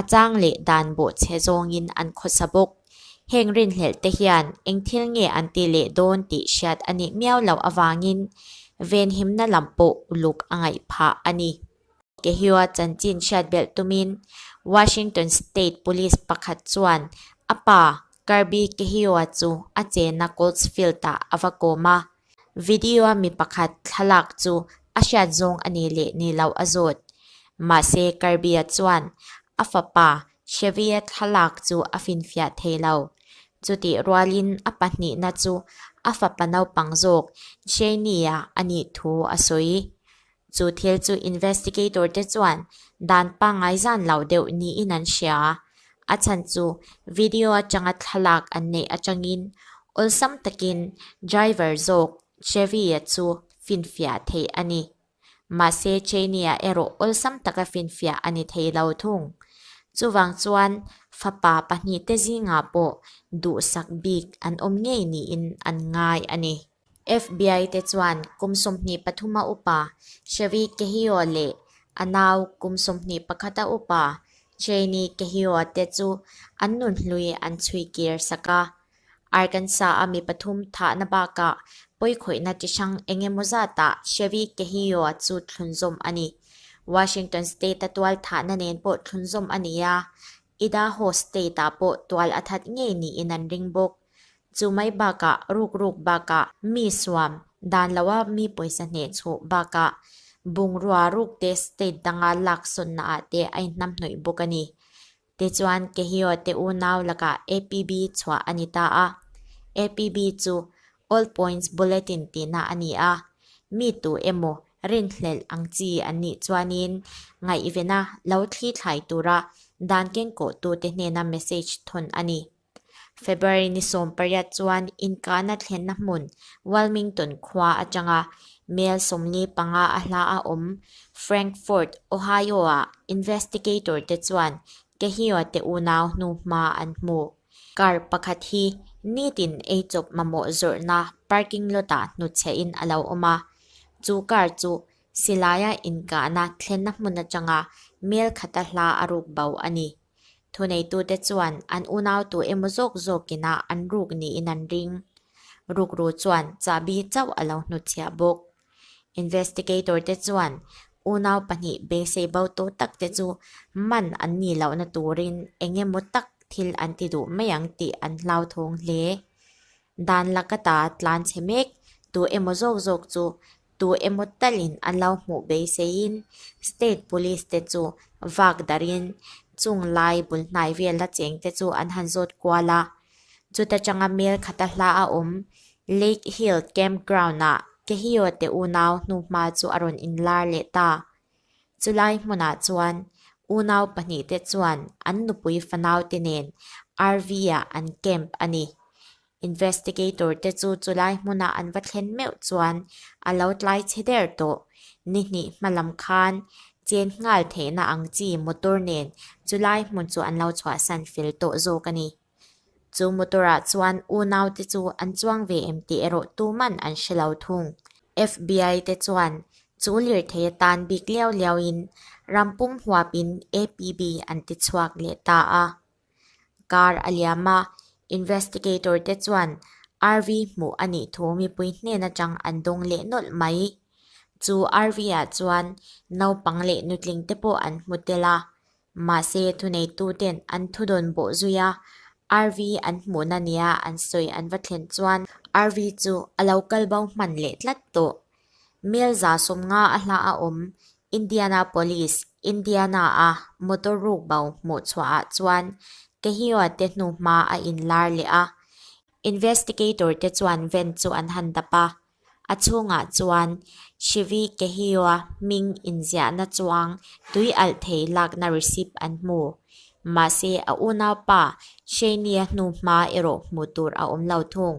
A chang leh dan bawh che zawngin an khawsa bawk. Heng rinhlelhte hian eng thil nge an ti leh dawn tih hriat a nih miau loh avangin venhimna lam pawh uluk a ngaih phah a ni. Kehiua chanchin hriat belh tumin Washington State Police pakhat chuan a pa Kirby Kehiua chu a chena Coltsfield-ah a va kawm a. Video a mi pakhat thlalak chu a hriat zawng a nih leh nih loh a zawt. Mahse Karbia chuan a fapa Xavier thlalak chu a finfiah thei lo. Chutih rualin a pahnihna chu a fapa naupang zawk Janie-a a nih thu a sawi. Chu thil chu investigator te chuan dan pangngai zan loh deuh niin an hria a. A chhan chu video atanga thlalak an neih atangin awlsam takin driver zawk Chevy-a chu finfiah theih a ni. Mahse Cheney-a erawh awlsam taka finfiah a ni thei lo thung. Chuvang chuan fapa pahnihte zingah pawh duhsak bik an awm ngei niin an ngai a ni. FBI-te chuan kum sawmhnih pathuma upa Chery Kehio leh a nau kum sawmhnih pakhata upa Cheney Kehio te chu an nun hlui an chhui kir sak a. Arkansas-a mi pathum thahna bakah pawikhawihna chi hrang eng emaw zatah Chery Kehio chu thlun zawm a ni. Washington State-a tual thahna nen pawh thlun zawm a ni a, Idaho State-ah pawh tual a that ngei niin an ring bawk. Chu mai bakah ruk ruk bakah mi suam dan loha mi pawisa hneh chhuh bakah bungrua rukte state danga laksawnna ah te a inhnamhnawih bawk a ni. Tichuan Kehio te unau lakah APB chhuah a ni ta a, APB chu All Points Bulletin tihna a ni a, mi tu emaw rinhlelh ang chi an nih chuanin ngaihvena lo thlithlai tura dan kengkawhtute hnena message thawn a ni. February ni sawm pariat chuan inkahna thlenna hmun Wilmington khua atanga Mel sawmli panga a hla a awm Frankfort, Ohio-a investigator-te chuan Kehio te unau hnu hma an hmu. Car pakhat hi nitin ei chawp mamawh zawrhna parking lot-ah hnuchhehin a lo awm a, chu car chu Silai-a inkahna thlenna hmun atanga Mel khata hla a ruk bo a ni. Thuneitute chuan an unautu emaw zawk zawkin a an ruk niin an ring. Rukru chuan chahbi chauh a lo hnutchhiah bawk. Investigator te chuan unau pahnih beisei bo tawh tak te chu man an ni lohna turin eng emaw tak thil an ti duh mai ang tih an hlauthawng hle. Dan la ka ta tlan chhe mek, tu emaw zawk zawk chu tu emaw talin an lo hmuh beiseiin state police te chu vak darhin chung lai bul hnai vel la cheng te chu an han zawt kual a. Chuta tanga mel khata hla a awm Lake Hill Camp Ground ah Kehio te unau hnuhma chu a rawn inlar leh ta. Chulai hmunah chuan unau pahnih te chuan an nupui fanaute nen RV ah an camp a ni. Investigator te chu chulai hmuna an va thlen meuh chuan a lo tlai chhe der tawh. Ni hnih hma lam khan chen nghal theihna ang chi motor nen chulai hmun chu an lo chhuah san fel tawh zawk a ni. Chu motor ah chuan unau te chu an chuang ve em tih erawh tuman an hre lo thung. FBI te chuan chu lirthei atan bik liau liau in rampum huap in APB an ti chhuak leh ta a. kar a liam a, investigator te chuan RV hmuh a nih thu mipui hnen atang an dawng leh nawlh mai. Chu RV ah chuan naupang leh nutling te pawh an hmu tel a, mahse thuneitu ten an thu dawn bawh zui a, RV an hmuhna nia an sawi an va thlen chuan RV chu a lo kal bau hman leh tlat tawh. Hmelza sum nga a hla a awm Indianapolis, Indiana a motor ruk bo hmuh chhuah ah chuan Kehiot te hnu hma a in lar leh a. Investigator te chuan van chu an han dap a, a chhungah chuan Chevy Kehioa hming inziahna chuang tui alh thei lakna receipt an hmu. Mahse a unaupa Shania hnu hma erawh hmuh tur a awm lo thung.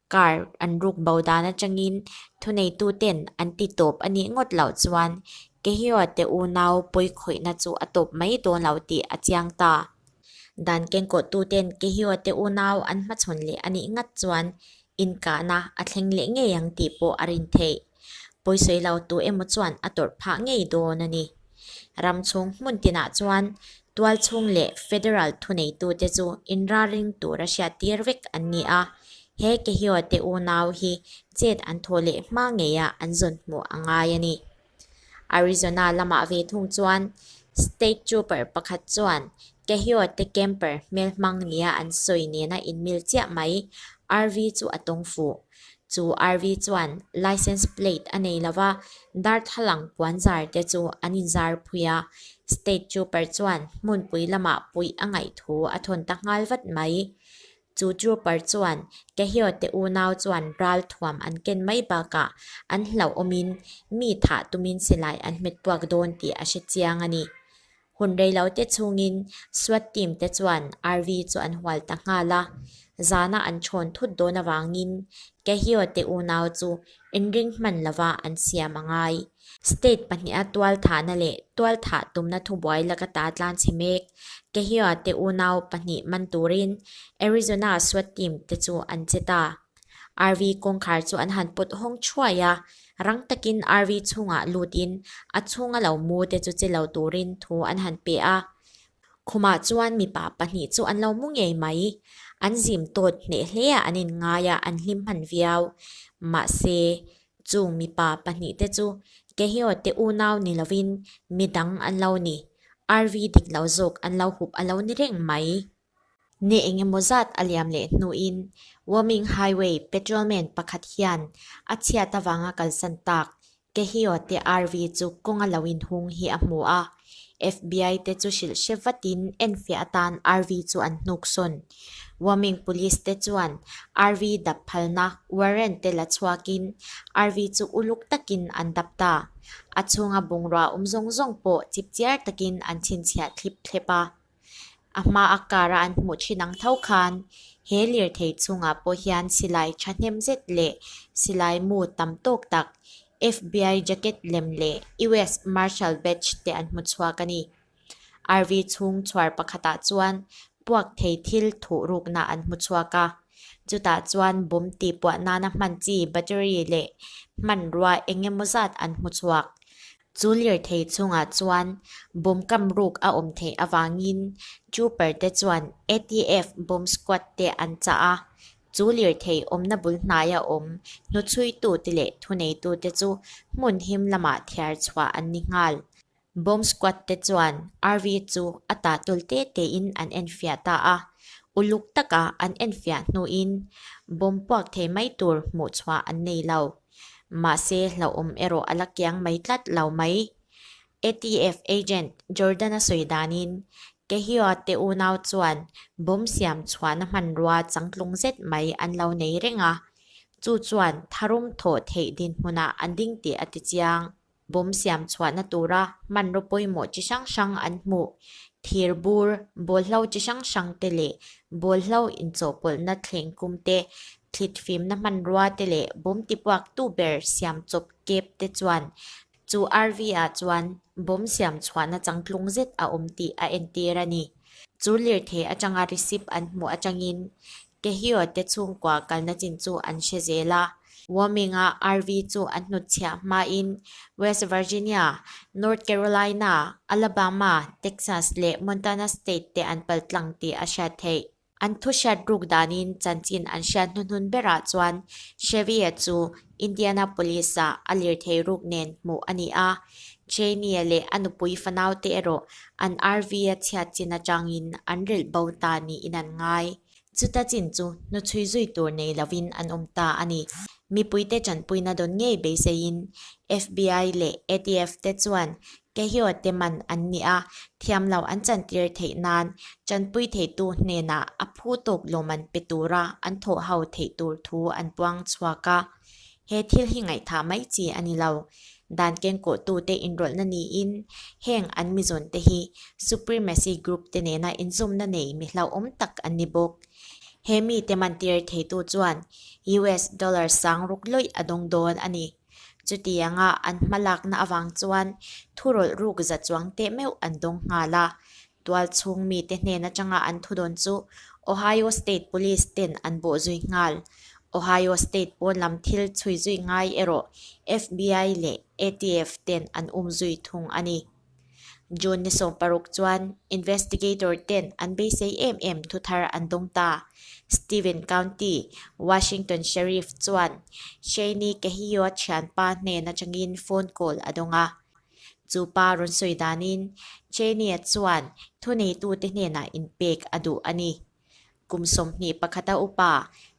Car an ruk bo dan atangin thuneituten an ti tawp a nih ngawt loh chuan Kehiote unau pawi khawihna chu a tawp mai dawn lo tih a chiang ta. Dan kengkawhtuten Kehiote unau an hmachhawn leh a nih ngat chuan inkahna a thleng leh ngei ang tih pawh a rin theih. Pawisawilau tu emaw chuan a tawrh phah ngei dawn a ni. Ram chhung hmun tinah chuan tual chhung leh federal thuneitute chu inralring tura hriat tir vek an ni a, he Kehiote unau hi chet an thaw leh hma ngeia an zawn hmuh a ngai a ni. Arizona lamah ve thung chuan state trooper pakhat chuan Kehiote camper hmel hmang nia an sawi nena inmil chiah mai, RV chu a tawng fuh. Chu RV chuan Licence Plate a nei lova darthlalang puan zar te chu an in zar phui a, State Trooper chuan hmunpui lamah puih a ngaih thu a thawn ta nghal vat mai. Chu Trooper chuan Kehio te unau chuan ral thuam an ken mai bakah an hlauhawmin mi thah tumin silai an hmet puak dawn tih a hre chiang a ni. Hun reilote chungin Swat team te chuan Arvi chu an hual ta nghal a, zana an chhawn thut dawn avangin Kehio te unau chu inring hman lova an siam a ngai. State pahniha tualthahna leh tualthah tumna thubuai laka ta tlan chhe mek Kehio te unau pahnih man turin Arizona Swat team te chu an che ta. RV kawngkhar chu an han put hawng thuai a, rang takin RV chhungah lutin a chhunga lo mu te chu che lo turin thu an han pe a. Khumah chuan mipa pahnih chu an lo mu ngei mai, an zim tawt hneh hle a an in ngai a, an hlim hman viau. Mahse, chung mipa pahnih te chu Kehio te unau ni lovin midang an lo ni, RV dik lo zawk an lo hup a lo ni reng mai. Ni engemaw zat a liam leh hnuin Woming Highway patrolman pakhat hian a chhiat avanga kalsan tak Kehio te RV chu kawng a lo inhung hi a hmu a. FBI te chu hrilh hre vatin enfiah atan RV chu an hnuk sawn. Woming Police te chuan RV dap phalna warrant te la chhuakin RV chu uluk takin an dap ta. A chhunga bungrua awm zawng zawng pawh chipchiar takin an chhinchhiah thlip thlep a. A hma a kara an hmuh thin ang tho khan he lirthei chungah pawh hian silai thahnem zet leh silai mu tam tawk tak, FBI jacket lem leh US Marshal Badge te an hmu chhuak a ni. RV chhung chhuar pakhatah chuan puak thei thil thuh rukna an hmu chhuak a, chutah chuan bum tihpuah nana hman chi, battery, leh hmanrua eng emaw zat an hmu chhuak. Chu lirthei chungah chuan bawm kam ruk a awm theih avangin trooper te chuan ATF bomb squad te an chah a. Chu lirthei awmna bul hnaia awm hnuchhuitu te leh thuneitu te chu hmun him lamah thiar chhuah an ni nghal. Bomb squad te chuan RV chu a tah tul te tein an enfiah ta a. Uluk taka an enfiah hnuin bawm puak thei mai tur hmuh chhuah an nei lo. Mahse, hlauhawm erawh a la kiang mai tlat lo mai. ATF agent Jordan-a sawi danin, Kehioa te unau chuan bomb siam chhuahna hmanrua changtlung zet mai an lo nei reng a, chu chuan tharum thawh theih dinhmunah an ding tih a ti chiang. Bawm siam chhuahna tura hmanraw pawimawh chi hrang hrang an hmuh, thir bur, bawlhlo chi hrang hrang te leh bawlhlo inchawhpawlhna thleng kum te, thlit fimna hmanrua te leh bawm tipuaktu ber siam chawp kep te chuan chu RV ah chuan bawm siam chhuahna changtlung zet a awm tih a entir a ni. Chu lirthei atanga receipt an hmuh atangin Taehyeo te chhungkua kalna chin chu an hre zel a. Warming a RV chu an hnut chhiah hmain West Virginia, North Carolina, Alabama, Texas leh Montana State te an pal tlang tih a hriat theih. An thu hriat ruk danin chanchin an hriat hnuhnun berah chuan Chevy-a chu Indianapolis-a a lirthei ruk nen hmuh a ni a, Cheney-a leh a nupui fanaute erawh an RV-a chhiat chin atangin an relh bo ta niin an ngai. Chuta chin chu hnu chhui zui tur nei lovin an awm ta a ni. Mipuite ṭanpuina dawn ngei beiseiin FBI leh ATF-te chuan Kehiote man an ni a, thiam lo an chantir theih nan chanpui theitu hnenah a phu tawk lawm an pe tura an thawh ho theih tur thu an puang chhuak a. He thil hi ngaihthah mai chi a ni lo. Dan kenkawhtute inrawlhna niin heng an mizawnte hi supremacy group te nena inzumna nei mi hlauhawm tak an ni bawk. He mite man tir theitu chuan US dollar sang ruk lawih a dawng dawn a ni. Chutianga an hma lakna avang chuan thu rawlh ruk za chuang teh meuh an dawng nghal a. Tual chhung mite hnen atanga an thu dawn chu Ohio State Police ten an bawh zui nghal. Ohio State pawn lam thil chhui zui ngai erawh FBI leh ATF ten an um zui thung a ni. June ni sawm paruk chuan investigator ten an beisei em em thu thar an dawng ta. Stephen County, Washington Sheriff chuan Shaney Kehioa thian pa hnen atangin phone call a dawng a. Chu pa rawn sawi danin Shaney-a chuan thu neitute hnenah inpek a duh a ni. Kum sawmhnih pakhata upa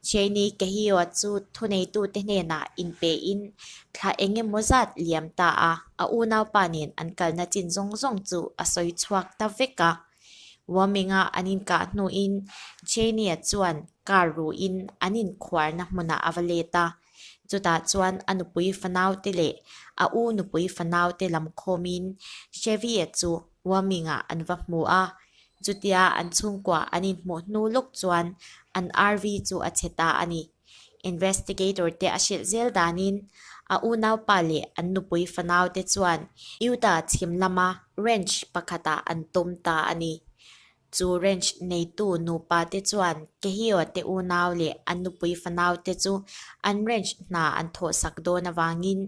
Cheney Kehio chu thuneitute hnenah inpein thla eng emaw zat liam ta a, a unaupa nen an kalna chin zawng zawng chu a sawi chhuak ta vek a. Warming-a an inkah hnuin Cheney-a chuan car ruhin an inkhuarna hmunah a va let a, chutah chuan a nupui fanaute leh a u nupui fanaute lam khawmin Chevy-a chu Huaming ah an va hmu a, chutia an chhungkuah an inhmuh hnu lawk chuan an RV chu a chhe ta a ni. Investigator te a hrilh zel danin a unaupa leh an nupui fanau te chuan Utah chhim lama ranch pakhatah an tum ta a ni. Chu ranch neitu nupa te chuan Kehio te unau leh an nupui fanau te chu an ranch hna an thawh sak dawn avangin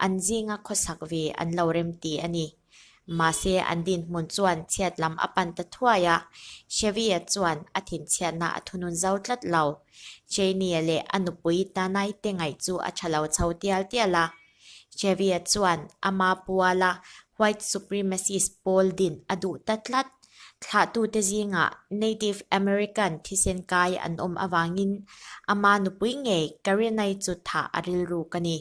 an zinga khawsak ve an lo rem ti a ni. Mahse an dinhmun chuan chhiat lam a pan ta thuai a, Chevy-a chuan a thinchhiatna a thunun zau tlat lo. Cheyne-a leh a nupui Danai te ngaih chu a tha lo chho tial tial a. Xavier chuan a ma pual a, white supremacist pawl din a duh ta tlat. Thlahtute zingah Native American thisen kai an awm avangin a ma nupui ngei Karenai chu thah a rilruk a ni.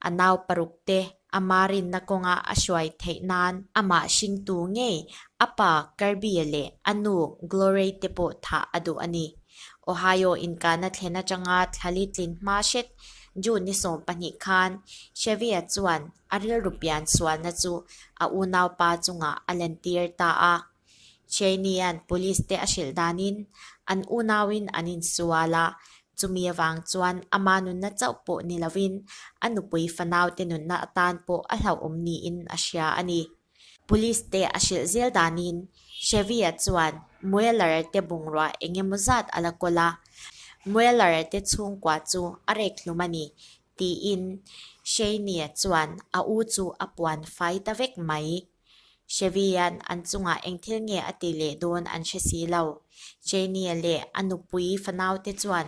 A nau paruk te a ma rinna kawnga a hruai theih nan amah hringtu ngei a pa Karbie leh a nu Glorey te pawh thah a duh a ni. Ohio inkahna thlen atanga thlali tlin hma hret June ni sawm pahnih khan Xavier chuan a rilru pian sualna chu a unaupa chungah a lantir ta a. Cheyne-a'n Police-te a hrilh danin an unauin an insual a, chumi avang chuan ama nunna chauh pawh ni lovin a nupui fanaute nunna atan pawh a hlauhawm niin a hria a ni. Police te a hrilh zel danin Chevy-a chuan Mueller te bungrua eng emaw zat a la kawl a, Mueller te chhungkua chu a rek hlum a ni, tiin Shaney-a chuan a u chu a puan fai ta vek mai. Chevy hian an chungah eng thil nge a ti leh dawn an hre si lo. Shaney-a leh a nupui fanau te chuan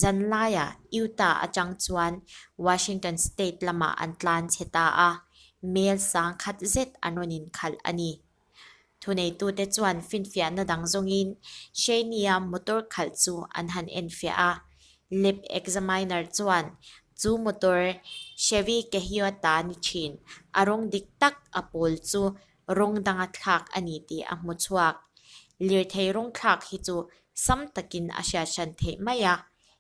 zanlaia Utah atang chuan Washington State lamah an tlan chhe ta a, Hmel sang khat zet an rawn inkhalh a ni. Thuneitute chuan finfiahna dang zawngin Shania motor khalh chu an han enfiah a. Lab examiner chuan chu motor Chevy Kehiota a ni thin, a rawng dik tak a pawl chu rawng danga thlak a ni tih a hmu chhuak. Lirthei rawng thlak hi chu sam takin a hriathrân theih mai a.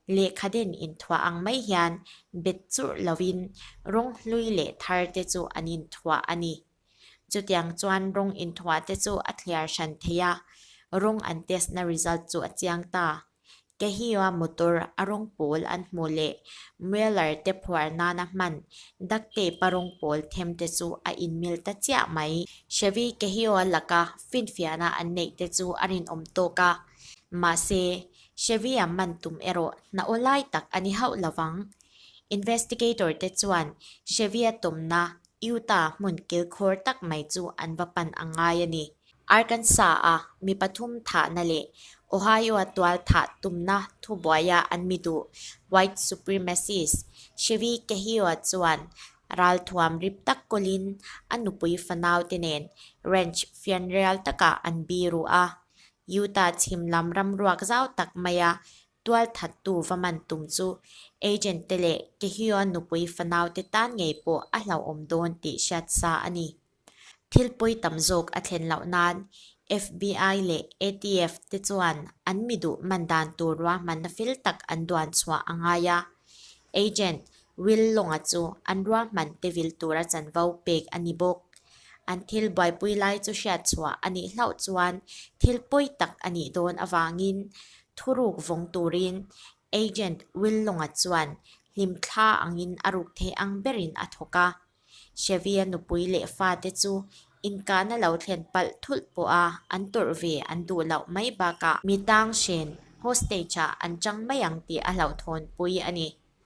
Lehkha den inthuah ang mai hian bet churh loin rawng hlui leh thar te chu an inthuah a ni. Chutiang chuan rawng inthuah te chu a thliar hran thei a, rawng an test na result chu a chiang ta. Kehioa motor a rawng pawl an hmu leh Mueller te phuar nana hman duct tape a rawng pawl them te chu a inmil ta chiah mai. Chevy Kehioa laka finfiahna an neih te chu a rinawm tawk a, mahse Xavier man tum erawh hna aw lai tak a ni hauh lo vang. Investigator te chuan Xavier tumna Utah hmun kilkhawr tak mai chu an va pan a ngai a ni. Arkansas-a mi pathum thahna leh Ohio-a tual thah tumna thubuaia an mi duh White Supremacist Xavi Kehio-a chuan ral thuam rip tak kawlin a nupui fanaute nen ranch fianrial takah an biru a, Utah chhim lam ram ruak zau tak maia tual that tu va man tum chu agent te leh Taehyua nupui fanau te tan ngei pawh a hlauhawm dawn tih hriat sa a ni. Thil pawi tam zawk a thlen loh nan FBI leh ATF te chuan an mi duh man dan tur ruahmanna fel tak an duan chhuah a ngai a. Agent Will Longa chu an ruahman pevil tura chanvo pek a ni bawk. An thil buaipui lai chu hriatchhuah a nih hlauh chuan thil pawi tak a nih dawn avangin thuruk vawng turin Agent Will Longa chuan hlim thla angin a ruk thei ang berin a thawk a. Xavier nupui leh fate chu inkahna lo thlen palh thulh pawha an tawrh ve an duh loh mai bakah, mi tanghren hostage-ah an chang mai ang tih a hlauhthawnpui a ni.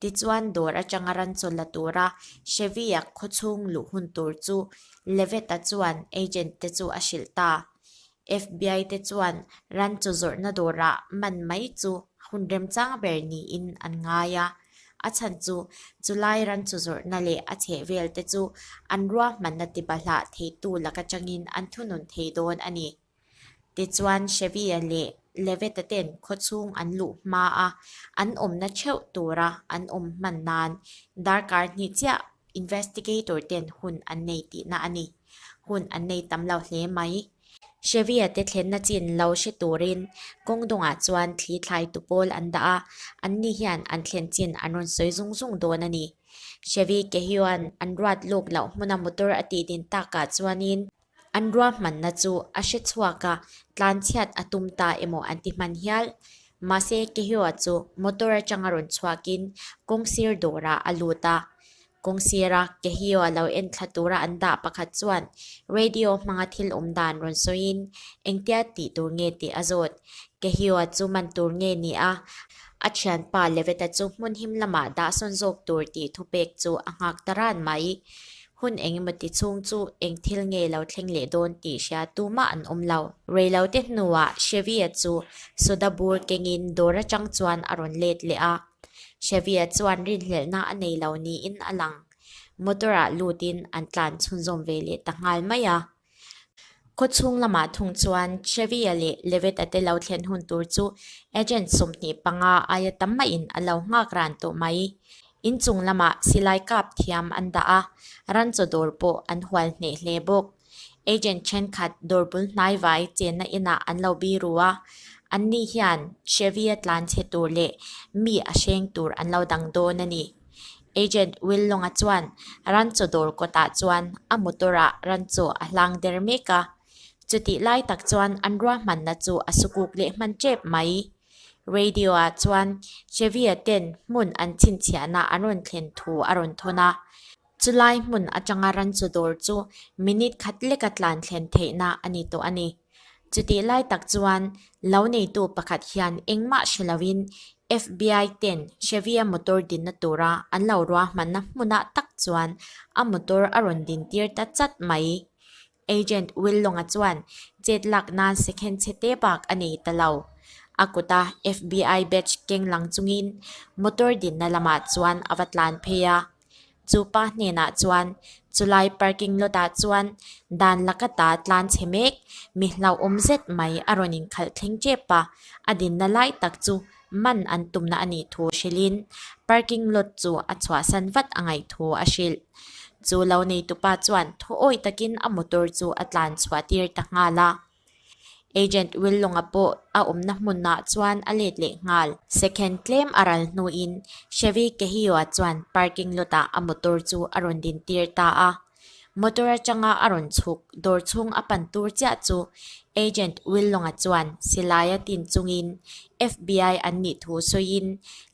Tichuan dawr atanga ran chaw la tura Chevy-a khawchhung luh hun tur chu Levitt-a chuan agent te chu a hrilh ta. FBI te chuan ran chaw zawrhna dawrah man mai chu hun remchang ber niin an ngai a. A chhan chu chulai ran chaw zawrhna leh a chheh vel te chu an ruahmanna tiba hlah theitu lak atangin an thunun thei dawn a ni. Tichuan, Shebia leh Levita ten khawchhung an luh hma a, an awmna theuh tura an awm hman nan darkar hnih chiah investigator ten hun an nei tihna a ni. Hun an nei tam lo hle mai. Shebia te thlenna chin lo hre turin kawng dawngah chuan thli thlai tu pawl an dah a, an ni hian an thlen chin an rawn sawi zung zung dawn a ni. Shebi Kehion an ruat luk loh hmuna motor a tih din takah chuanin, An ruahmanna chu a hre chhuak a, tlanchhiat a tum ta emaw an ti hman hial. Mahse, Kehyoa chu motor atanga rawn chhuakin kawng sir dawrah a lut a. Kawng sira Kehyoa lo en thla tura an dah pakhat chuan radio hmanga thil awm dan rawn sawiin engtia tih tur nge tih a zawt. Kehyoa chu man tur nge ni a, a thianpa Leveta chu hmun him lamah dahsawn zawk tur tih thupek chu a nghak ta ran mai. Hun eng emaw ti chhung chu eng thil nge lo thleng leh dawn tih hria tumah an awm lo. Reilote hnuah Xavier chu soda bur kengin dawr atang chuan a rawn let leh a. Xavier chuan rinhlelhna a nei lo niin a lang. Motor-ah lutin an tlan chhunzawm ve leh ta nghal mai a. Khawchhung lamah thung chuan Chevia leh Levetta te lo thlen hun tur chu agent sawmhnih panga aia tam maiin a lo nghak ran tawh mai. Inchung lamah silai kap thiam an dah a, ranchaw dawr pawh an hual hneh hle bawk. Agent thenkhat dawr bul hnaivai chenna inah an lo bi ru a, anni hian Chevia tlan chhe tur leh mi a hreng tur an lo dang dawn a ni. Agent Willownga chuan rancho dawr kawtah chuan a motor-a rancho a hlang der mek a. Chutih lai tak chuan an ruahmanna chu a sukuk leh hman tep mai. Radio-ah chuan Xavier ten hmun an chhinchhiahna an rawn thlen thu a rawn thawn a. Chulai hmun atanga rancho dawr chu minute khat leka tlan thlen theihna a ni tawh a ni. Chutih lai tak chuan lo neitu pakhat hian engmah hre loin FBI ten Chevy-a motor dinna tura an lo ruahmanna hmunah tak chuan a motor a rawn din tir ta chat mai. Agent Will Long-a chuan chet lak nan second chhe te bak a nei ta lo. A kuta FBI badge keng lang chungin motor dinna lamah chuan a va tlan phei a. Chu pa hnenah chuan, Chulai parking lotah chuan dan la ka ta tlan chhe mek, mi hlauhawm zet mai a rawn inkhalh thleng tep a, a dinna lai tak chu man an tumna a nih thu hrilhin parking lot chu a chhuahsan vat a ngaih thu a hrilh. Chu lo neitu pa chuan thaw awi takin a motor chu a tlan chhuahtir ta nghal a. Agent Willownga pawh a awmna hmunah chuan a let leh nghal. Second tlem a ral hnuin Chevy Kehio-a chuan parking lawtah a motor chu a rawn din tir ta a. Motor atanga a rawn chhuk dawr chhung a pan tur chiah chu Agent Willownga chuan Silaia tin chungin FBI an nih thu sawiin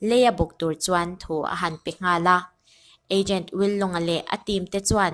lei a bawk tur chuan thu a han pe nghal a. Agent Willownga leh a team te chuan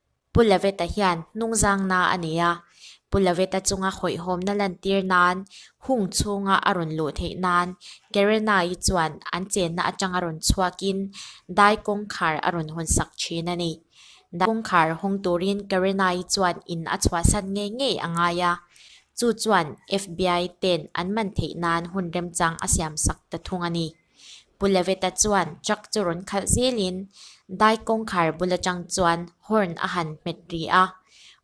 Pu Laveta hian hnung zang na a nei a, Pu Laveta chunga hawihhawmna lantir nan hung chhunga a rawn luh theih nan Gerena-i chuan an chenna atanga rawn chhuakin Dai kawngkhar a rawn hawn sak thin a ni. Dai kawngkhar hawng turin Gerena-i chuan in a chhuahsan ngei ngei a ngai a, chu chuan FBI ten an man theih nan hun remchang a siam sak ta thung a ni. Pu Leveta chuan truck chu rawn khalh zelin dai kawngkhar bul atang chuan horn a han hmet ri a.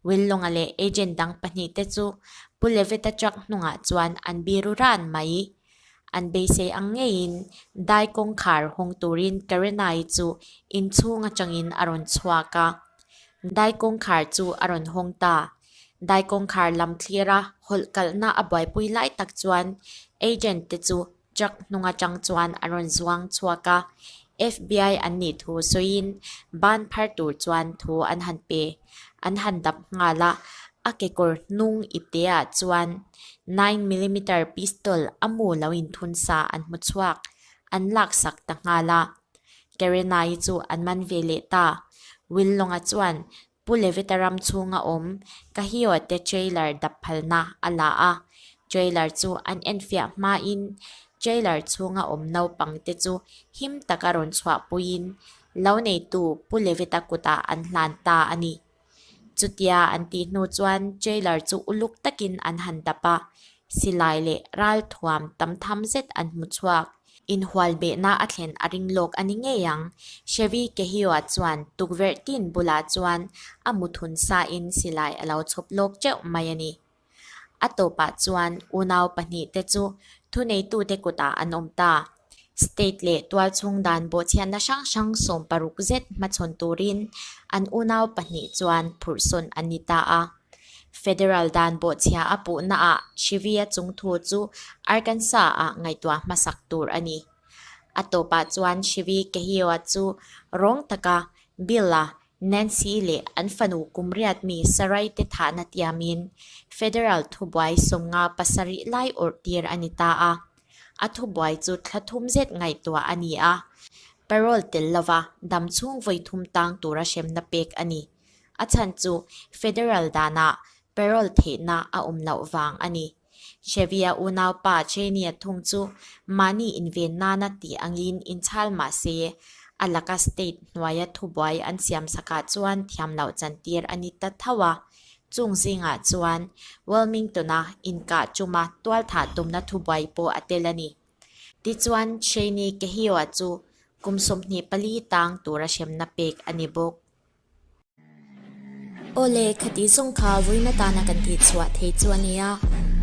Willownga leh agent dang pahnih te chu Pu Leveta truck hnungah chuan an biru ran mai. An beisei ang ngeiin dai kawngkhar hawng turin Karenai chu inchhung atangin a rawn chhuak a. Dai kawngkhar chu a rawn hawng ta. Dai kawngkhar lam thlira hawlh kalhna a buaipui lai tak chuan agent te chu Truck hnung atang chuan a rawn zuang chhuak a, FBI an nih thu sawiin ban phar tur chuan thu an han pe, an han dap nghal a, a kekawr hnung i te ah chuan nine millimeter pistol a mu lo in thun sa an hmu chhuak, an lak sak ta nghal a, Karenai chu an man ve leh ta, Will Long-a chuan Pu Levita ram chhunga awm Kahio te trailer dap phalna a la a, trailer chu an enfiah hmain trailer chhunga awm naupang te chu him taka rawn chhuahpuiin lo neitu Pu Levita kutah an hlan ta a ni. Chutia an tih hnu chuan trailer chu uluk takin an han dap a, silai leh ral thuam tam tham zet an hmu chhuak. Inhual behna a thlen a ring lawk a ni ngei ang. Chevy Kehioa chuan tukverhtin bulah chuan a muthun sain silai a lo chhawp lawk teuh mai a ni. A tawpah chuan unau pahnih te chu thuneitute kutah an awm ta. State leh tual chhung dan bawhchhiatna hrang hrang sawm paruk zet hmachhawn turin an unau pahnih chuan phurhsawn an ni ta a. Federal dan bawhchhiah a puhnaah Shrivia chungthu chu Arkansas-a ngaihtuah hmasak tur a ni. A tawpah chuan Shrivi Kehioa chu rawng taka Bill-a Nancy leh an fanu kum riat mi Sarai te thahna tiamin Federal thubuai sawmnga pasarih lai awrh tir a ni ta a. A thubuai chu thla thum zet ngaihtuah a ni a, parole tel lova dam chhungvawi thum tang tura hremna pek a ni. A chhan chu Federal danah parole theihna a awm loh vang a ni. Chevy-a unaupa Cheney-a thung chu mahni inven nana tih angin inchhal mah se, a laka state hnuaia thubuai an siam sakah chuan thiam loh chantir a ni ta thauh a. Chung zingah chuan Wilmington-a inkah tuma tualthah tumna thubuai pawh a tel a ni. Tichuan Cheney Kehio-a chu kum sawmhnih pali tang tura hremna pek a ni bawk. Aw le, kha tih zawng kha vawiin atana kan tih chhuah thei chu a nia,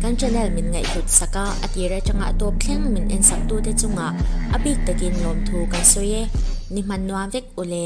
kan channel min ngaihhlut sak a, a tir atanga a tawp thleng min en sak tu te chungah a bik takin lawm thu kan sawi e, ni hman nuam vek u le.